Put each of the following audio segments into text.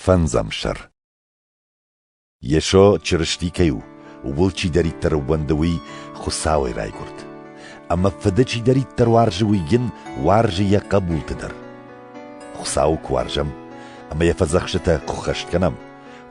Фӕндзӕмсӕр. Йесо Чырысти кӕй у, ууыл чидӕриддӕр ууӕнды, уый Хуыцауӕй райгуырд. Ӕмӕ Фыды чидӕриддӕр уарзы, уый йын уарзы йӕ хъӕбулты дӕр. Хуыцауы куы уарзӕм ӕмӕ йӕ фӕдзӕхстытӕ куы ххӕст кӕнӕм,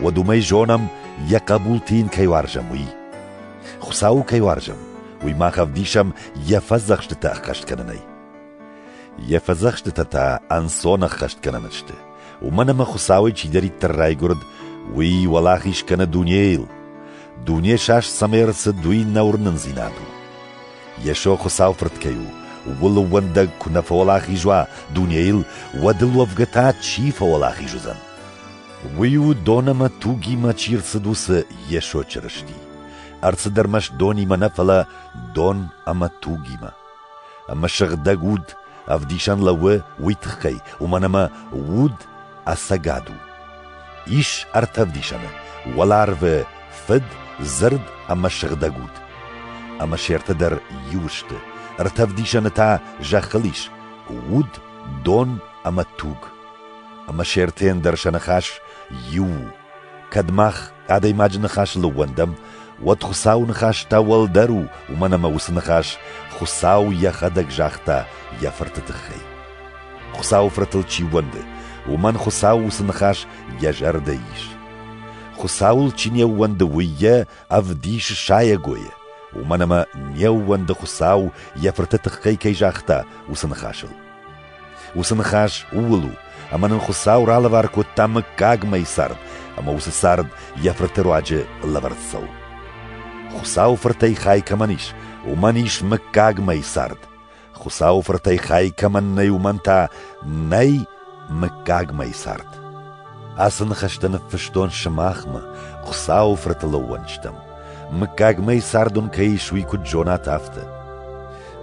уӕд уымӕй зонӕм, йӕ хъӕбулты йын кӕй уарзӕм, уый. Хуыцауы кӕй уарзӕм, уый мах ӕвдисӕм йӕ фӕдзӕхстытӕ ӕххӕст кӕнынӕй. Йӕ фӕдзӕхстытӕ та ӕнцон ӕххӕст кӕнӕн сты. Уымӕн ӕмӕ Хуыцауӕй чидӕриддӕр райгуырд, уый уӕлахиз кӕны дунейыл. Дуне саст цӕмӕй ӕрцыд, уый нӕ уырнындзинад у. Йесо Хуыцау Фырт кӕй у, ууыл ӕууӕндӕг куы нӕ фӕуӕлахиз уа дунейыл, уӕд ыл уӕвгӕ та чи фӕуӕлахиз уыдзӕн? Уый у дон ӕмӕ тугимӕ чи рцыд, уыцы Йесо Чырысти. Ӕрцыд ӕрмӕст донимӕ нӕ, фӕлӕ дон ӕмӕ тугимӕ. Ӕмӕ сыгъдӕг уд ӕвдисӕн лӕууы уый тыххӕй, уымӕн ӕмӕ уд ӕцӕгад у. Ис ӕртӕ ӕвдисӕны: уӕларвы Фыд, Дзырд ӕмӕ сыгъдӕг уд. Ӕмӕ се ртӕ дӕр иу сты. Ӕртӕ ӕвдисӕны та зӕххыл ис: уд, дон ӕмӕ туг. Ӕмӕ се ртӕйӕн дӕр сӕ ныхас иу у: кӕд мах Адӕймаджы ныхасыл ӕууӕндӕм, уӕд Хуыцауы ныхас та уӕлдӕр у, уымӕн ӕмӕ уыцы ныхас Хуыцау йӕхӕдӕг загъта йӕ Фырты тыххӕй. Хуыцауы Фыртыл чи ууӕнды, уымӕн Хуыцау уыцы ныхас йӕ зӕрдӕ ис. Хуыцауыл чи не ууӕнды, уый йӕ ӕвдис сайӕгойӕ, уымӕн ӕмӕ не ууӕнды Хуыцау йӕ Фырты тыххӕй кӕй загъта, уыцы ныхасыл. Уыцы ныхас ууыл у, ӕмӕ нын Хуыцау ралӕвар кодта мыггагмӕйы цард, ӕмӕ уыцы цард йӕ фырты руаджы лӕвӕрд цӕуы. Хуыцауы фыртӕй хай кӕмӕн ис, уымӕн ис мыггагмӕйы цард. Хуыцауы фыртӕй хай кӕмӕн нӕй, уымӕн та нӕй мыггагмӕйы цард. Ацы ныхӕстӕ ныффыстон сымахмӕ, Хуыцауы фырты лӕууӕнчытӕм. Мыггагмӕйы цард уын кӕй ис, уый куыд зонат, афтӕ.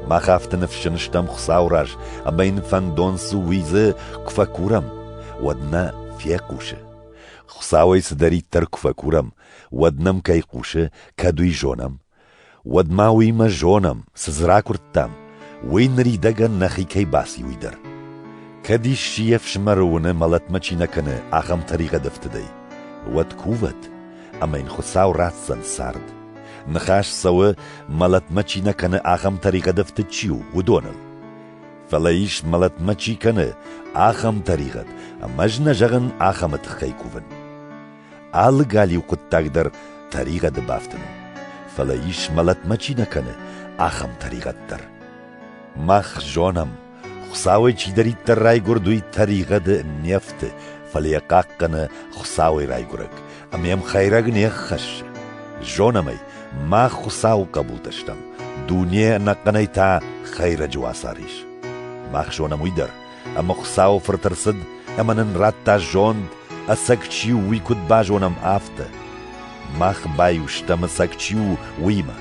Мах афтӕ ныфсджын стӕм Хуыцауы раз, ӕмӕ йын фӕндон цы уидзы, куы фӕкурӕм, уӕд нӕ фехъусы. Хуыцауӕй цыдӕриддӕр куы фӕкурӕм, уӕд нӕм кӕй хъусы, кӕд уый зонӕм. Уӕд ма уыимӕ зонӕм, цы дзы ракуырдтам, уый ныридӕгӕн нӕхи кӕй баци, уый дӕр. Кӕд исчи йе фсымӕры уыны, мӕлӕтмӕ чи нӕ кӕны, ахӕм тӕригъӕд ӕфтыдӕй, уӕд кувӕд, ӕмӕ йын Хуыцау ратдзӕн цард. Ныхас цӕуы, мӕлӕтмӕ чи нӕ кӕны ахӕм тӕригъӕдӕфты чи у, уыдоныл. Фӕлӕ ис, мӕлӕтмӕ чи кӕны, ахӕм тӕригъӕд, ӕмӕ ӕз нӕ зӕгъын ахӕмы тыххӕй кувын. Алы галиу хъуыддаг дӕр тӕригъӕды бафтын у, фӕлӕ ис, мӕлӕтмӕ чи нӕ кӕны, ахӕм тӕригъӕд дӕр. Мах зонӕм, Хуыцауӕй чидӕриддӕр райгуырд, уый тӕригъӕды не фты, фӕлӕ йӕ хъахъхъӕны Хуыцауӕй райгуырӕг, ӕмӕ йӕм хӕйрӕг не ххӕссы. Зонӕм ӕй, мах Хуыцауы хъӕбултӕ стӕм, дуне ӕнӕхъӕнӕй та хӕйрӕджы уацар ис. Мах зонӕм уый дӕр, ӕмӕ Хуыцауы Фырт ӕрцыд ӕмӕ нын радта зонд, ӕцӕг чи у, уый куыд базонӕм, афтӕ. Мах баиу стӕм ӕцӕг чи у, уыимӕ.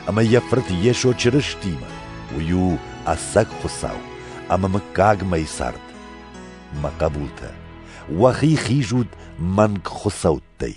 ӕмӕ йӕ фырт Йесо Чырыстимӕ, уый у ӕцӕг Хуыцау ӕмӕ мыггагмӕйы цард. Мӕ хъӕбултӕ, уӕхи хизут мӕнг хуыцӕуттӕй.